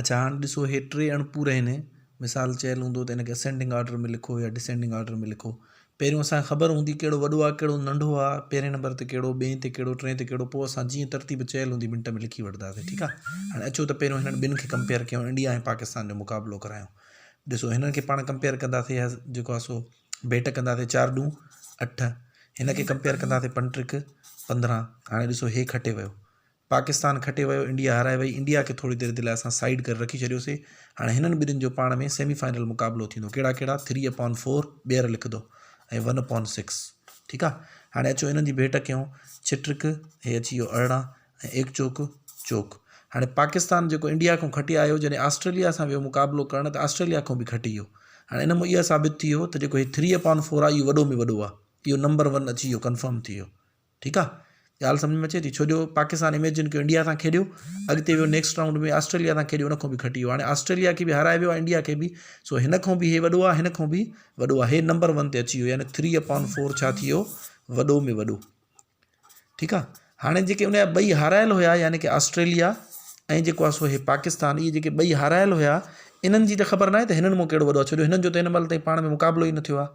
اڇا هاڻ ڏسو هي ٽي اڻپور آهن مثال چيل هوندو ته هنکي اسينڊنگ آرڊر ۾ لکو يا ڊسينڊنگ آرڊر ۾ لکو پهريون اسانکي خبر هوندي ڪهڙو وڏو آهي ڪهڙو ننڍو آهي پهرين نمبر تي ڪهڙو ٻئي تي ڪهڙو ٽئي تي ڪهڙو پوء اسان جيئن ترتيب چيل هوندي منٽ ۾ لکي وٺنداسي ٺيڪ آهي هاڻ اچو ته پهريون هنن ٻن کي ڪمپيئر ڪيون انڊيا ۽ پاڪستان جو مقابلو ڪرايون ڏسو هنن کي پاڻ ڪمپيئر ڪنداسي يا جيڪو آهي سو ڀيٽ ڪنداسي چار ڏون اٺ هن کي ڪمپيئر ڪنداسي پنٽرڪ پندرهن هاڻي ڏسو هي کٽي ويو پاڪستان کٽي ويو انڊيا هارائي وئي انڊيا کي ٿوري دير جي لاء اسان سائيڊ ڪري رکي ڇڏيوسي هاڻي هنن ٻنهين جو پاڻ ۾ سيمي فائنل مقابلو ٿيندو ڪهڙا ڪهڙا ٿري اپان فور ٻيهر لکدو ۽ ون اپان سڪس ٺيڪ آ هاڻي اچو انهن جي ڀيٽ ڪيون ڇٽرڪ هي اچي ويو ارڙهن ۽ ايڪ چوڪ چوڪ هاڻي پاڪستان جيڪو انڊيا کان کٽي آيو جڏهن آسٽريليا سان ويو مقابلو ڪرڻ ته آسٽريليا کان به کٽي ويو هاڻي ان مان اها ثابت ٿي ويو ته جيڪو هي ٿري اپان فور آ اهو وڏو ۾ وڏو آ اهو نمبر ون اچي ويو ڪنفرم ٿي ويو ٺيڪ آ ڳالھ سمجھ ۾ اچي ٿي ڇو جو پاڪستان اميجن ڪيو انڊيا سان کيڏيو اڳتي ويو نيڪسٽ راؤنڊ ۾ آسٽريليا سان کيڏيو ان کان به گھٽ ويو هاڻي آسٽريليا کي به هارائي ويو انڊيا کي به سو هن کان به هي وڏو آ هن کان به وڏو آ هي نمبر ون تي اچي ويو يعني ٿري اپان فور ڇا ٿي ويو وڏو ۾ وڏو ٺيڪ آ هاڻي جيڪي ان جا ٻئي هارايل هيا يعني ڪي آسٽريليا ۽ جيڪو آ سو هي پاڪستان اهي جيڪي ٻئي هارايل هيا انهن جي ته خبر ناهي ته هنن مون ڪهڙو وڏو آ ڇو جو هنن جو ته هن مهل تائين پاڻ ۾ مقابلو ئي نه ٿيو آ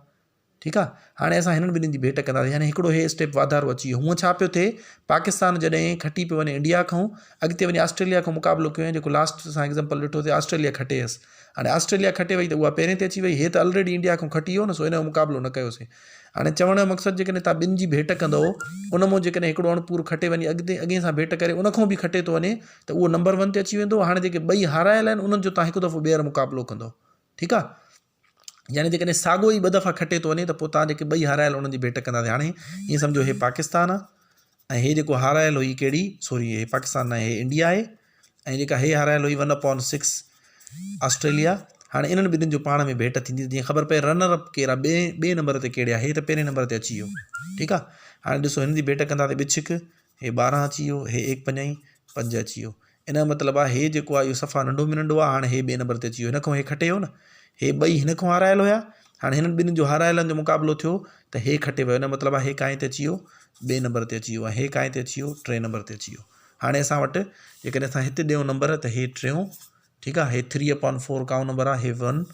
ٺيڪ آ هاڻي اسان هنن ٻنهين جي ڀيٽ ڪنداسين يعني هڪڙو هي اسٽيپ واڌارو اچي ويو هونء ڇا پيو ٿئي پاڪستان جڏهن کٽي پيو وڃي انڊيا کون اڳتي وڃي آسٽريليا کون مقابلو ڪيو جيڪو لاسٽ اسان ايگزامپل ڏٺو ته آسٽريليا کٽي هيس هاڻي آسٽريليا کٽي وئي ته اها پهرين تي اچي وئي هي ته الريڊي انڊيا کون کٽي ويو نه سو هن جو مقابلو نه ڪيو سين هاڻي چوڻ جو مقصد جيڪڏهن تها ٻن جي ڀيٽ ڪندو ان مون جيڪڏهن هڪڙو اڻ پور کٽي وڃي اڳتي اڳين سان ڀيٽ ڪري ان کون به کٽي ٿو وڃي ته اهو نمبر ون تي اچي ويندو هاڻي جيڪي ٻئي هارايل آهن انهن جو تها هڪ دفعو ٻيهر مقابلو ڪندو ٺيڪ آ يعني جيڪڏهن ساڳو ئي ٻه دفعا کٽي ٿو وڃي ته پوء توهان جيڪي ٻئي هارايل انهن جي ڀيٽ ڪنداسين هاڻي ائين سمجهو هي پاڪستان آهي ۽ هي جيڪو هارايل هئي ڪهڙي سوري هي پاڪستان نه هي انڊيا آهي ۽ جيڪا هي هارايل هئي ون اپون سڪس آسٽريليا هاڻي انهن ٻنهين جو پاڻ ۾ ڀيٽ ٿيندي جيئن خبر پئي رنر اپ ڪير آهي ٻئي ٻئي نمبر تي ڪهڙي آهي هي ته پهرين نمبر تي اچي ويو ٺيڪ آهي هاڻي ڏسو هن جي ڀيٽ ڪنداسين ٻچ هڪ هي ٻارهن اچي ويو، هي ايڪ پنجائين، پنج اچي ويو. ان جو مطلب آهي هي جيڪو آهي اهو صفا ننڍو ۾ ننڍو آهي، هاڻي هي ٻئي نمبر تي اچي ويو، هن کان هي کٽي ويو نه، هي ٻئي هن کان هارايل هيا، هاڻي هنن ٻنهين جو هارايلن جو مقابلو ٿيو ته هي کٽي ويو، ان جو مطلب آهي هي ڪائين تي اچي ويو، ٻئي نمبر تي اچي ويو ۽ هي ڪائين تي اچي ويو، ٽئين نمبر تي اچي ويو. هاڻي اسان وٽ جيڪڏهن اسان هت ڏيون نمبر ته هي ٽيون، ٺيڪ آهي، هي ٿري اپان فور ڪائون نمبر آهي، هي ون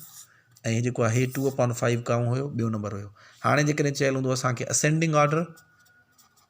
۽ هي جيڪو آهي هي ٽو اپان فائيو ڪائون هيو، ٻيو نمبر هيو. هاڻي جيڪڏهن چيل هوندو اسان کي اسينڊنگ آرڊر،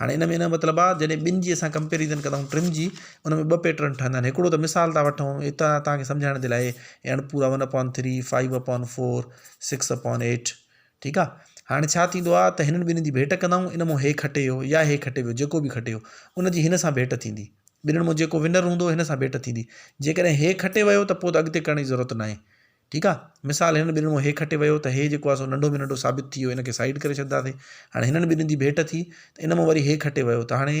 هاڻي ان ۾ نه مطلب آ جڏهن ٻن جي اسان ڪمپيريزن ڪندائون ٽن جي ان ۾ ٻه پيٽرن ٺهندا آهن هڪڙو ته مثال ٿا وٺون هتان توهان کي سمجهائڻ جي لاء هي اڻپورا one upon three five upon four six upon eight ٺيڪ آ هاڻي ڇا ٿيندو آ ته هنن ٻنهن جي ڀيٽ ڪندائون ان مون هي کٽي ويو يا هي کٽي ويو جيڪو به کٽي ويو ان جي هن سان ڀيٽ ٿيندي ٻنهن مون جيڪو ونر هوندو هن سان ڀيٽ ٿيندي جيڪڏهن هي کٽي ويو ته پوء ته اڳتي ڪرڻ جي ضرورت ناهي ٺيڪ آ مثال هنن ٻنهن مان هي کٽي ويو ته هي جيڪو آ سو ننڍو ۾ ننڍو ثابت ٿي ويو ان کي سائيڊ ڪري ڇڏداسين هاڻي هنن ٻنهن جي ڀيٽ ٿي ته ان مان وري هي کٽي ويو ته هاڻي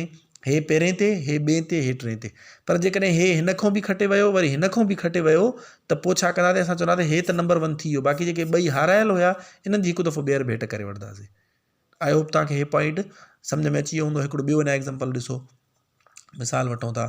هي پهرين تي هي ٻئين تي هي ٽئين تي پر جيڪڏهن هي هن کان به کٽي ويو وري هن کان به کٽي ويو ته پو ڇا ڪنداسين اسان چونداسين هي ته نمبر ون ٿي ويو باقي جيڪي ٻئي هارايل هيا انهن جي هڪ دفعو ٻيهر ڀيٽ ڪري وٺداسين آئي هوپ توهان کي هي پوائنٽ سمجهه ۾ اچي ويو هوندو هڪڙو ٻيو اڃا ايگزامپل ڏسو مثال وٺون ٿا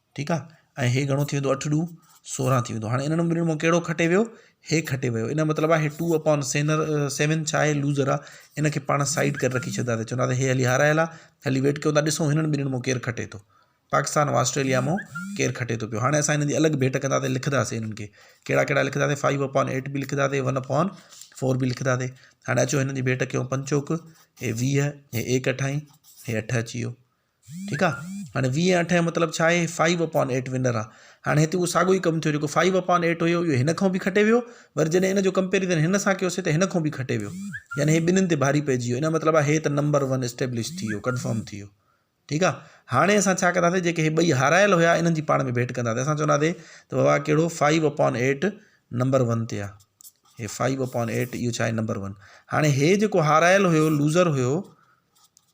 ٺيڪ آ ۽ هي گهڻو ٿي ويندو اٺ ڏو سورهن ٿي ويندو هاڻي انهن ٻنهن مان ڪهڙو کٽي ويو هي کٽي ويو ان جو مطلب آ هي ٽو اپان سينر سيون ڇا آهي لوزر آ ان کي پاڻ سائيڊ ڪري رکي ڇڏيندا سي چوندا سي هي هلي هارايل آ هلي ويٽ ڪيو ٿا ڏسون هنن ٻنهن مون ڪير کٽي ٿو پاڪستان ۽ آسٽريليا مون ڪير کٽي ٿو پيو هاڻي اسان هنن جي الڳ ڀيٽ ڪندا سي لکدا سي هنن کي ڪهڙا ڪهڙا لکدا سي فائيو اپان ايٽ به لکدا سي ون اپان فور به لکدا سي هاڻي اچو هنن جي ڀيٽ ڪيون پنچوڪ هي ويهه هي ايڪ اٺائي هي اٺ اچي ويو ٺيڪ آ هاڻي ويهه ۽ اٺ مطلب ڇا آهي فائيو اپان ايٽ ونر آ هاڻي هتي اهو ساڳو ئي ڪم ٿيو جيڪو فائيو اپان ايٽ هيو اهو هن کان به کٽي ويو وري جڏهن ان جو ڪمپيرزن هن سان ڪيوسي ته هن کان به کٽي ويو يعني هي ٻنهين تي ڀاري پئجي ويو ان جو مطلب آ هي ته نمبر ون اسٽيبلش ٿي ويو ڪنفرم ٿي ويو ٺيڪ آ هاڻي اسان ڇا ڪنداسي جيڪي هي ٻئي هارايل هيا انهن جي پاڻ ۾ ڀيٽ ڪنداسي اسان چونداسي ته بابا ڪهڙو five upon eight number one تي آ هي فائيو اپان ايٽ اهو ڇا آهي نمبر ون هاڻي هي جيڪو هارايل هيو لوزر هيو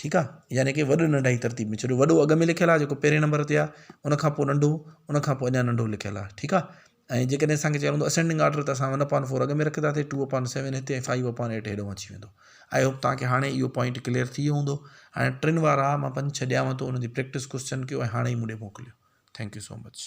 ٺيڪ آ يعني ڪي وڏو ننڍا جي ترتيب ۾ ڇڏيو وڏو اڳ ۾ لکيل آ جيڪو پهرين نمبر تي آ ان کان پو ننڍو ان کان پو اڃا ننڍو لکيل آ ٺيڪ آ ۽ جيڪڏهن اسان کي چيو ويندو اسينڊنگ آرڊر ته اسان ون اپان فور اڳ ۾ رکنداسي ٽو اپان سيون هتي ۽ فائيو اپان ايٽ هيڏهون اچي ويندو آئي هوپ توهان کي هاڻي اهو پوائنٽ ڪليئر ٿي ويو هوندو هاڻي ٽن وارا مان پنج ڇهه ڏيانو ٿو ان جي پريڪٽس ڪوسچن ڪيو ۽ هاڻي ئي مون ڏي موڪليو ٿينڪ يو سو مچ